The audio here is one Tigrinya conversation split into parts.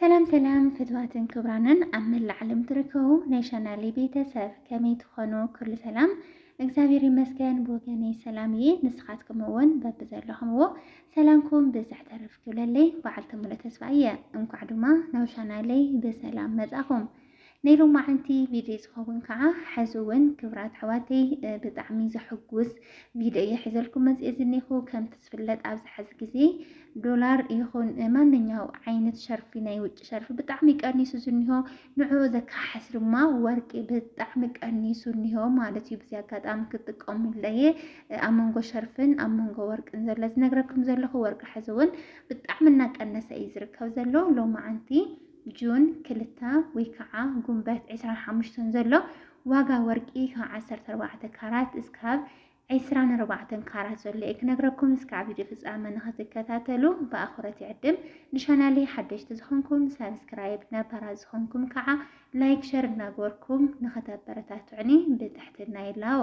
ሰላም ሰላም ፍትዋትን ክብራንን ኣብ መላእ ዓለም ትርከቡ ናይ ቻናሌ ቤተሰብ ከመይ ትኾኑ? ኩሉ ሰላም እግዚኣብሔር ይመስገን ብወገነይ ሰላም እየ። ንስኻትኩም እውን በብዘለኹምዎ ሰላምኩም ብዝሕ ተረፍ ክብለለይ በዓልቲ ሙሉእ ተስፋ እየ። እንኳዕ ድማ ናብ ቻናለይ ብሰላም መጻኹም። ናይ ሎማዓንቲ ቪድዮ ዝኸውን ከዓ ሕዚ እውን ክብራት ኣሕዋተይ ብጣዕሚ ዘሕጉስ ቪድዮ እየ ሕዘልኩም መፅኤ ዝኒኹ ከምቲ ዝፍለጥ ኣብዚ ሕዚ ግዜ ዶላር ይኹን ማንኛው ዓይነት ሸርፊ ናይ ውጭ ሸርፊ ብጣዕሚ ቀኒሱ ዝኒሆ ንዕኡ ዘካሓስ ድማ ወርቂ ብጣዕሚ ቀኒሱ እኒሆ ማለት እዩ ብዚ ኣጋጣሚ ክጥቀሙለየ ኣብ መንጎ ሸርፍን ኣብ መንጎ ወርቅን ዘሎ ዝነግረኩም ዘለኹ ወርቂ ሕዚ እውን ብጣዕሚ እናቀነሰ እዩ ዝርከብ ዘሎ ሎማዓንቲ ጁን ክልተ ወይ ከዓ ጉንበት ዕስራን ሓሙሽተን ዘሎ ዋጋ ወርቂ ካብ ዓሰርተ ኣርባዕተ ካራት እስካብ ዕስራን ኣርባዕተን ካራት ዘሎ እየ ክነግረኩም። እስካብ ቪድዮ ፍፃመ ንክትከታተሉ ብኣኽብሮት ይዕድም። ንቻናለይ ሓደሽቲ ዝኾንኩም ሳብስክራይብ፣ ነባራት ዝኾንኩም ከዓ ላይክ፣ ሸር እናገበርኩም ንክተበረታትዑኒ ብትሕትና ይላቦ።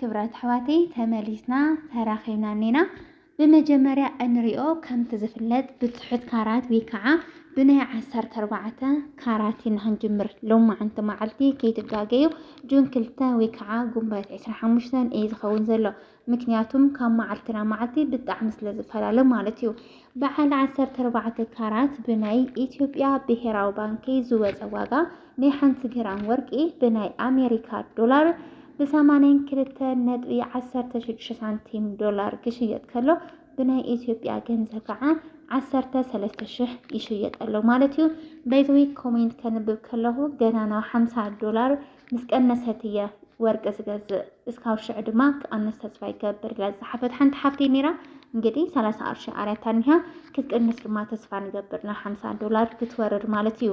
ክብረት ኣሕዋተይ ተመሊስና ተራኺብና እኒና ብመጀመርያ እንሪኦ ከምቲ ዝፍለጥ ብትሑት ካራት ወይ ከዓ ብናይ ዓሰርተ ኣርባዕተ ካራት ኢና ክንጅምር ሎማዓንቲ መዓልቲ ከይትጋገዩ ጁን ክልተ ወይ ከዓ ጉንበት ዕስራ ሓሙሽተን እዩ ዝኸውን ዘሎ ምክንያቱም ካብ መዓልቲ ናብ መዓልቲ ብጣዕሚ ስለ ዝፈላለ ማለት እዩ በዓል ዓሰርተ ኣርባዕተ ካራት ብናይ ኢትዮጵያ ብሄራዊ ባንኪ ዝወፀ ዋጋ ናይ ሓንቲ ግራም ወርቂ ብናይ ኣሜሪካ ዶላር ብሰማንያን ክልተ ነጥቢ ዓሰርተ ሽዱሽተ ሳንቲም ዶላር ክሽየጥ ከሎ ብናይ ኢትዮጵያ ገንዘብ ከዓ ዓሰርተ ሰለስተ ሽሕ ይሽየጥ ኣሎ ማለት እዩ። በይዘዊ ኮሜንት ከንብብ ከለኹ ገና ናብ ሓምሳ ዶላር ምስ ቀነሰት እየ ወርቂ ዝገዝእ እስካብ ሽዑ ድማ ክቐንስ ተስፋ ይገብር ኢላ ዝሓፈት ሓንቲ ሓፍቲ ነይራ። እንግዲህ ሰላሳ ቅርሺ ኣርያታ እኒሃ ክትቅንስ ድማ ተስፋ ንገብር ናብ ሓምሳ ዶላር ክትወርድ ማለት እዩ።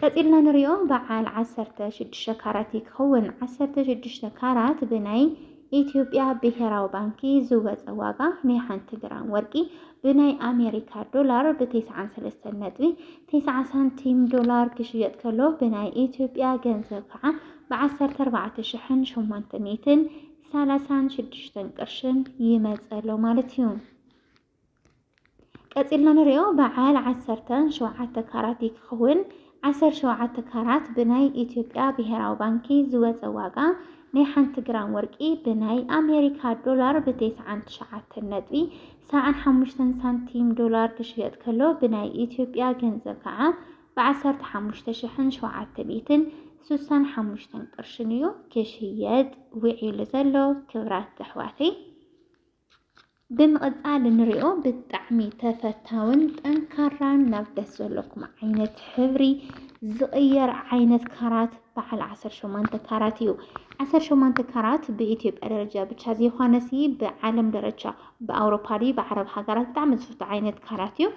ቀጺልና ንሪኦ በዓል ዓሰርተ ሽዱሽተ ካራት እዩ ክኸውን። ዓሰርተ ሽዱሽተ ካራት ብናይ ኢትዮጵያ ብሄራዊ ባንኪ ዝወጸ ዋጋ ናይ ሓንቲ ግራም ወርቂ ብናይ ኣሜሪካ ዶላር ብቴስዓን ሰለስተን ነጥቢ ቴስዓ ሳንቲም ዶላር ክሽየጥ ከሎ ብናይ ኢትዮጵያ ገንዘብ ከዓ ብዓሰርተ ኣርባዕተ ሽሕን ሸሞንተ ሚእትን ሰላሳን ሽዱሽተን ቅርሽን ይመጸ ኣሎ ማለት እዩ። ቀጺልና ንሪኦ በዓል ዓሰርተ ሸውዓተ ካራት እዩ ክኸውን። ዓሰር ሸውዓተ ካራት ብናይ ኢትዮጵያ ብሄራዊ ባንኪ ዝወፀ ዋጋ ናይ ሓንቲ ግራም ወርቂ ብናይ ኣሜሪካ ዶላር ብቴስዓን ትሽዓተን ነጥቢ ሰብዓን ሓሙሽተን ሳንቲም ዶላር ክሽየጥ ከሎ ብናይ ኢትዮጵያ ገንዘብ ከዓ ብዓሰርተ ሓሙሽተ ሽሕን ሸውዓተ ሚእትን ስሳን ሓሙሽተን ቅርሽን እዩ ክሽየጥ ውዒሉ ዘሎ ክብራት ኣሕዋተይ ብምቕጻል እንሪኦ ብጣዕሚ ተፈታውን ጠንካራን ናብ ደስ ዘለኩም ዓይነት ሕብሪ ዝቕየር ዓይነት ካራት በዓል 18 ካራት እዩ። 18 ካራት ብኢትዮጵያ ደረጃ ብቻ ዘይኮነሲ ብዓለም ደረጃ ብኣውሮፓ ድዩ ብዓረብ ሃገራት ብጣዕሚ ዝፍቶ ዓይነት ካራት እዩ።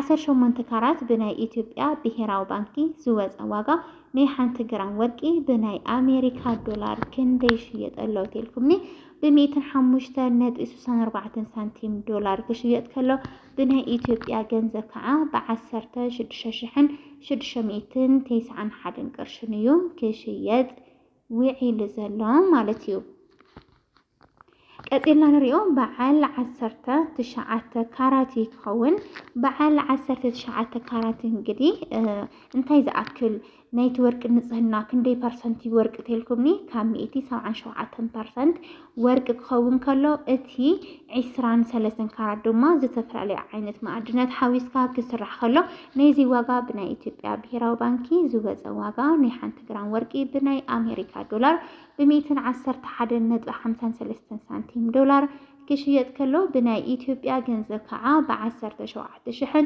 18 ካራት ብናይ ኢትዮጵያ ብሄራዊ ባንኪ ዝወፀ ዋጋ ናይ ሓንቲ ግራም ወርቂ ብናይ ኣሜሪካ ዶላር ክንደይ ይሽየጥ ኣሎ ተልኩምኒ ብሚእትን ሓሙሽተን ነጥቢ ስሳን ኣርባዕተን ሳንቲም ዶላር ክሽየጥ ከሎ ብናይ ኢትዮጵያ ገንዘብ ከዓ ብዓሰርተ ሽዱሽተ ሽሕን ሽዱሽተ ሚእትን ቴስዓን ሓደን ቅርሽን እዩ ክሽየጥ ውዒሉ ዘሎ ማለት እዩ። ቀፂልና ንሪኦ በዓል ዓሰርተ ትሽዓተ ካራት እዩ ክኸውን። በዓል ዓሰርተ ትሽዓተ ካራት እንግዲህ እንታይ ዝኣክል ናይቲ ወርቂ ንጽህና ክንደይ ፐርሰንት እዩ ወርቂ ተልኩምኒ ካብ ሚእቲ ሰብዓን ሸውዓተን ፐርሰንት ወርቂ ክኸውን ከሎ እቲ ዒስራን ሰለስተን ካራት ድማ ዝተፈላለዩ ዓይነት መኣድናት ሓዊስካ ክስራሕ ከሎ ናይዚ ዋጋ ብናይ ኢትዮጵያ ብሄራዊ ባንኪ ዝወፀ ዋጋ ናይ ሓንቲ ግራም ወርቂ ብናይ ኣሜሪካ ዶላር ብሚእትን ዓሰርተ ሓደን ነጥቢ ሓምሳን ሰለስተን ሳንቲም ዶላር ክሽየጥ ከሎ ብናይ ኢትዮጵያ ገንዘብ ከዓ ብዓሰርተ ሸውዓተ ሽሕን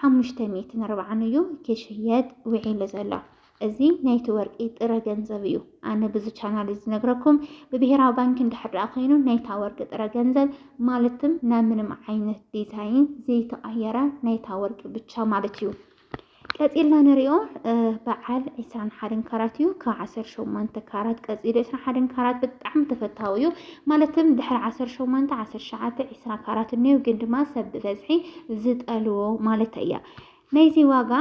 ሓሙሽተ ሚእትን ኣርብዓን እዩ ክሽየጥ ውዒሉ ዘሎ። እዚ ናይቲ ወርቂ ጥረ ገንዘብ እዩ። ኣነ ብዚ ቻናል እዚ ዝነግረኩም ብብሄራዊ ባንኪ እንድሕር ደኣ ኮይኑ ናይታ ወርቂ ጥረ ገንዘብ ማለትም ናብ ምንም ዓይነት ዲዛይን ዘይተቐየረ ናይታ ወርቂ ብቻ ማለት እዩ። ቀፂልና ንሪኦ በዓል 21 ካራት እዩ ካብ 18 ካራት ቀፂሉ 21 ካራት ብጣዕሚ ተፈታዊ እዩ ማለትም ድሕሪ ዓሰርተ ሸሞንተ፣ ዓሰርተ ትሽዓተ፣ ዒስራ ካራት እኒኦ ግን ድማ ሰብ ብበዝሒ ዝጠልዎ ማለት እያ። ናይዚ ዋጋ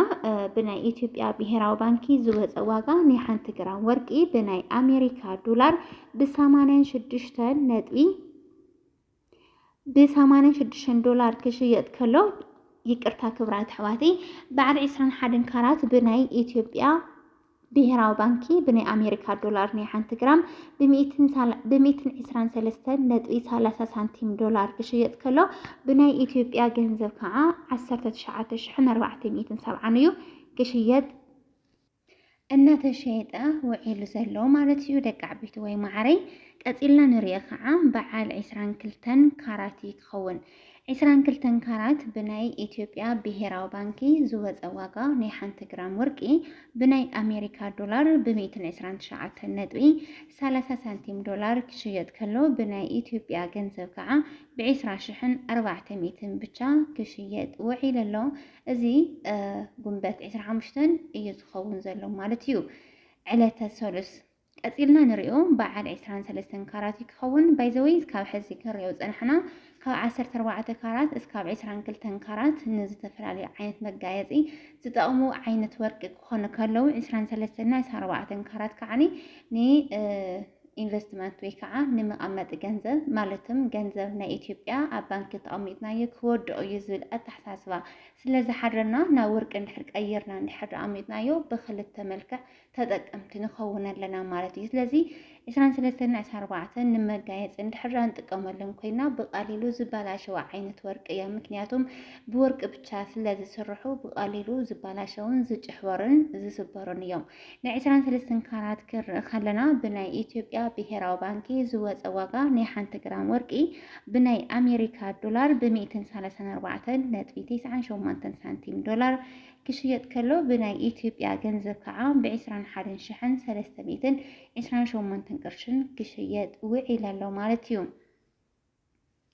ብናይ ኢትዮጵያ ብሄራዊ ባንኪ ዝወፀ ዋጋ ናይ ሓንቲ ግራም ወርቂ ብናይ ኣሜሪካ ዶላር ብሰማንያን ሽዱሽተን ነጥቢ ብሰማንያን ሽዱሽተን ዶላር ክሽየጥ ከሎ ይቅርታ ክብራት ኣሕዋተይ በዓል ዕስራን ሓደን ካራት ብናይ ኢትዮጵያ ብሄራዊ ባንኪ ብናይ ኣሜሪካ ዶላር ናይ ሓንቲ ግራም ብሚእትን ዕስራን ሰለስተን ነጥቢ ሰላሳ ሳንቲም ዶላር ክሽየጥ ከሎ ብናይ ኢትዮጵያ ገንዘብ ከዓ ዓሰርተ ትሽዓተ ሽሕን ኣርባዕተ ሚእትን ሰብዓን እዩ ክሽየጥ እናተሸየጠ ውዒሉ ዘሎ ማለት እዩ ደቂ ዓበይቲ ወይ ማዕረይ ቀፂልና ንሪኦ ከዓ በዓል ዕስራን ክልተን ካራቲ ክኸውን ዕስራን ክልተን ካራት ብናይ ኢትዮጵያ ብሄራዊ ባንኪ ዝወፀ ዋጋ ናይ ሓንቲ ግራም ወርቂ ብናይ ኣሜሪካ ዶላር ብ ሚእትን ዕስራን ትሽዓተን ነጥቢ ሰላሳ ሳንቲም ዶላር ክሽየጥ ከሎ ብናይ ኢትዮጵያ ገንዘብ ከዓ ብ ዕስራ ሽሕን ኣርባዕተ ሚእትን ብቻ ክሽየጥ ውዒሉ ኣሎ። እዚ ጉንበት ዕስራ ሓሙሽተን እዩ ዝኸውን ዘሎ ማለት እዩ ዕለተ ሰሉስ። ቀጺልና ንሪኦ በዓል ዕስራን ሰለስተን ካራት እዩ ክኸውን ባይዘወይ እስካብ ሕዚ ክንሪኦ ዝጸናሕና ካብ ዓሰርተ ኣርባዕተ ካራት እስካብ ዕስራን ክልተን ካራት ንዝተፈላለዩ ዓይነት መጋየጺ ዝጠቕሙ ዓይነት ወርቂ ክኾኑ ከለዉ ዕስራን ሰለስተን እና ዕስራን ኣርባዕተን ካራት ከዓኒ ን ኢንቨስትመንት ወይ ከዓ ንመቐመጢ ገንዘብ ማለትም ገንዘብ ናይ ኢትዮጵያ ኣብ ባንኪ ተቐሚጥናዮ ክወድኦ እዩ ዝብል ኣተሓሳስባ ስለ ዝሓድረና ናብ ወርቂ እንድሕር ቀይርና እንድሕር ኣሚጥናዮ ብክልተ መልክዕ ተጠቀምቲ ንኸውን ኣለና ማለት እዩ። ስለዚ ዕስራን ሰለስተን ን ዕስራን ኣርባዕተን ንመጋየፂ እንድሕር ንጥቀመለን ኮይና ብቀሊሉ ዝበላሸው ዓይነት ወርቂ እዮም። ምክንያቱም ብወርቂ ብቻ ስለ ዝስርሑ ብቀሊሉ ዝበላሸውን ዝጭሕበሩን ዝስበሩን እዮም። ናይ ዕስራን ሰለስተን ካራት ክንርኢ ከለና ብናይ ኢትዮጵያ ብሄራዊ ባንኪ ዝወፀ ዋጋ ናይ ሓንቲ ግራም ወርቂ ብናይ ኣሜሪካ ዶላር ብ134 ነጥቢ 98 ሳንቲም ዶላር ክሽየጥ ከሎ ብናይ ኢትዮጵያ ገንዘብ ከዓ ብዕስራን ሓደን ሽሕን ሰለስተ ሚእትን ዕስራን ሸሞንተን ቅርሽን ክሽየጥ ውዒል ኣሎ ማለት እዩ።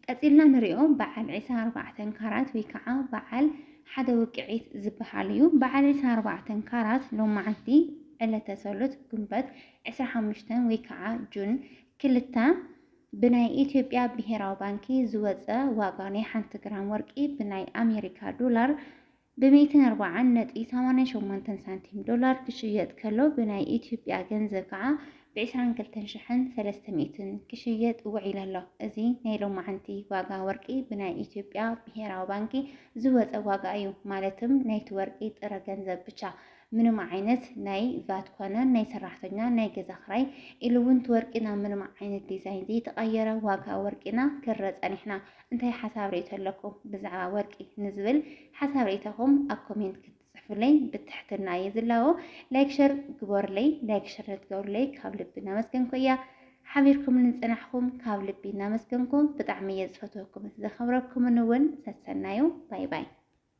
ቀፂልና ንሪኦ በዓል ዕስራን ኣርባዕተን ካራት ወይ ከዓ በዓል ሓደ ውቅዒት ዝበሃል እዩ። በዓል ዕስራን ኣርባዕተን ካራት ሎማዓንቲ ዕለተ ሰሉስ ግንቦት ዕስራን ሓሙሽተን ወይ ከዓ ጁን ክልተ ብናይ ኢትዮጵያ ብሄራዊ ባንኪ ዝወፀ ዋጋ ናይ ሓንቲ ግራም ወርቂ ብናይ ኣሜሪካ ዶላር ብሚእትን ኣርባዓን ነጥቢ ሰማንያን ሸሞንተን ሳንቲም ዶላር ክሽየጥ ከሎ ብናይ ኢትዮጵያ ገንዘብ ከዓ ብዕስራን ክልተን ሽሕን ሰለስተ ሚእትን ክሽየጥ ውዒሉ ኣሎ። እዚ ናይ ሎማዕንቲ ዋጋ ወርቂ ብናይ ኢትዮጵያ ብሄራዊ ባንኪ ዝወፀ ዋጋ እዩ። ማለትም ናይቲ ወርቂ ጥረ ገንዘብ ብቻ ምንም ዓይነት ናይ ቫት ኮነ ናይ ሰራሕተኛ ናይ ገዛ ክራይ ኢሉ እውን እቲ ወርቂ ናብ ምንም ዓይነት ዲዛይን ዘይተቐየረ ዋጋ ወርቂና ክረ ፀኒሕና። እንታይ ሓሳብ ርእይቶ ኣለኩም ብዛዕባ ወርቂ ንዝብል ሓሳብ ርእይቶኹም ኣብ ኮሜንት ክትጽሕፉለይ ብትሕትና እየ ዝላቦ። ላይክ ሸር ግበሩለይ ላይክ ሸር ንትገብሩለይ ካብ ልቢ እናመስገንኩ እያ ሓቢርኩም ንጽናሕኩም ካብ ልቢ እናመስገንኩ ብጣዕሚ እየ ዝፈትወኩምን ዘኸብረኩምን እውን ሰሰናዩ ባይ ባይ።